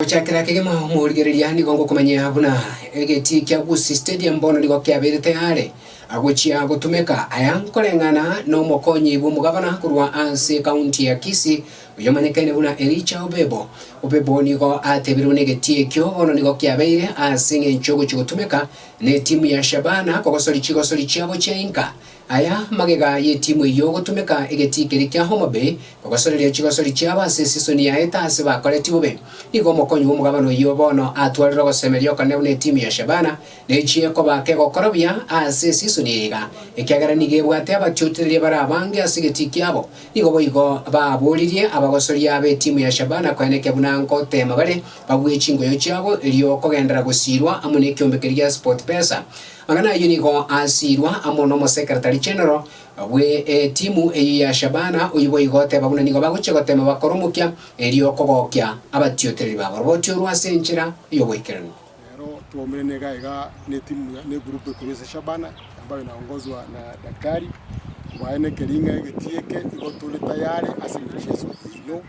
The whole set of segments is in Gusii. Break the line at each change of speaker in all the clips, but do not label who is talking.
Gochakera kegima omorigereria nigo ngokomanyia buna egetii kia Gusii Stadium bono nigo kiabeire tayare agochia gotumeka. Aya nkoreng'ana nomokonyi bw'omogabana korwa ase ekaunti ya Kisii oyomanyekene buna Elijah Obebo. Obebo nigo ateberwe negetii ekio bono nigo kiabeire ase eng'encho yogochia gotumeka netimu ya Shabana kogosori chigosori chiabo chia inka Aya magega y'etimu eyio gotumeka egetii keria kia Homa Bay kogosoreria chigosori chiabo ase esisoni yaete ase bakoreti bobe. Nigo omokonyi bw'omogabana oyio bono atwarire ogosemeria okonene buna etimu ya Shabana nechie koba kegokora buya ase esisoni eye iga, ekiagera nigo ebwate abatiotereria bare abange ase egetii kiabo. Nigo boigo baboririe abagosoria abe etimu ya Shabana koenekia buna ngoteema bare babue chingoyo chiabo erio kogendera gosiirwa amo nekiombe keria gia Sportpesa. Aya nayio nigo asiirwa amo n'omosekeretari general bwe etimu eyio ya Shabana, oyio boigo oteba buna nigo bagochia gotema bakore omokia, erio kogokia abatiotereri b'aboroboti orwa ase enchera y'oboikeranu. Nero twaumerane
iga iga netimu ya negroup ekorwa ase Shabana ambayo inaongozwa na Daktari, mbaye nekering'a egetii eke igo tore tayare ase emicheso yaino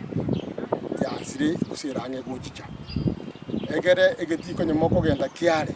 yansire gose erang'e gochicha. Egere egetii konyuma okogenda kiare.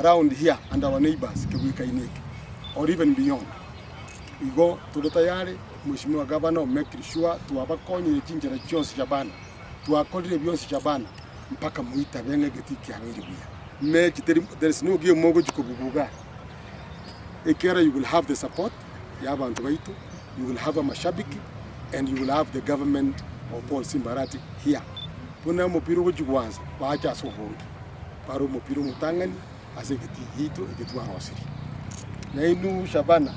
around here and our neighbours kegwekaine eke or even beyond. Igo tore tayare Mweshimiwa Governor o make sure twabakonyire chinchera chionsi chia bana, twakorire bionsi chia bana mpaka moitabe ng'a egetii kiabeire buya. Mechi teri, there is no game mogochia kobubuga iga, ekero you will have the support yabanto baito you will have amashabiki and you will have the government of Paul Simba Arati here buna omopira ogochia gwansa bache ase obonge bare omopira omotang'ani ase egeti giaito eki twarosirie nainwe Shabana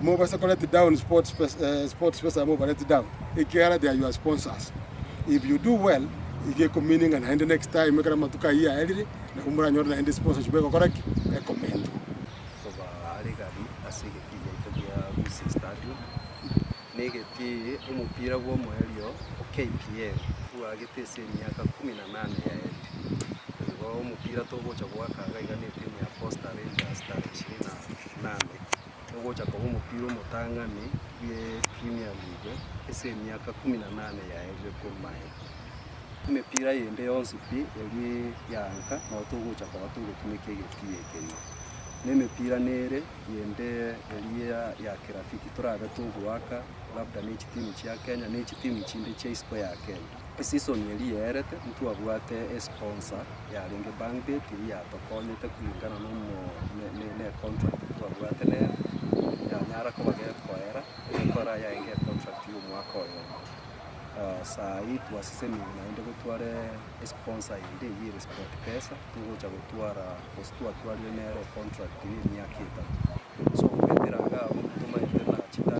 mobasa ko let down sports pes- eh, sports pesa moba let down ekiara they are your sponsors if you do well igekomininga naende next time ekero amatuko ayio aerire nabo moranyore naende sponsorship egokora ki ekomendwa
Tobaregani ase egetii giaito gia Gusii Stadium, na egetii omopira bw'omoerio o KPL bwagete ase emiaka ikomi na nane yaetwe. Nigo omopira togocha goaka iga iga na etimu ya Posta Rangers tarehe ishirini na inane, ogocha koba omopira omotang'ani bw'Premier League ase emiaka ikomi na inane yaerire korwa aya. Emepira eyende yonsi pi eria eyaanka nabo togocha korora togotumeka egetugi ekeria. Na emepira nere eyende eria ya kirafiki torabe togoaka labda ne chitimu chia Kenya ne chitimu chinde chia isiko ya Kenya. Eseason eria yaerete ntwabwate esponsa yarenge Bangbet eyio yatokonyete kulingana na omo- ne- ne- ne econtract twabwate nere yanyara koba gekoera, egekora yaenga econtract ya omwaka oyomo. Saa eye twasesenire naende gotware esponsa ende eye ere Sportpesa, togocha gotwara gose twatwarire nere econtract ye emiaka etato. So goetera iga abwo tomanyete na chita.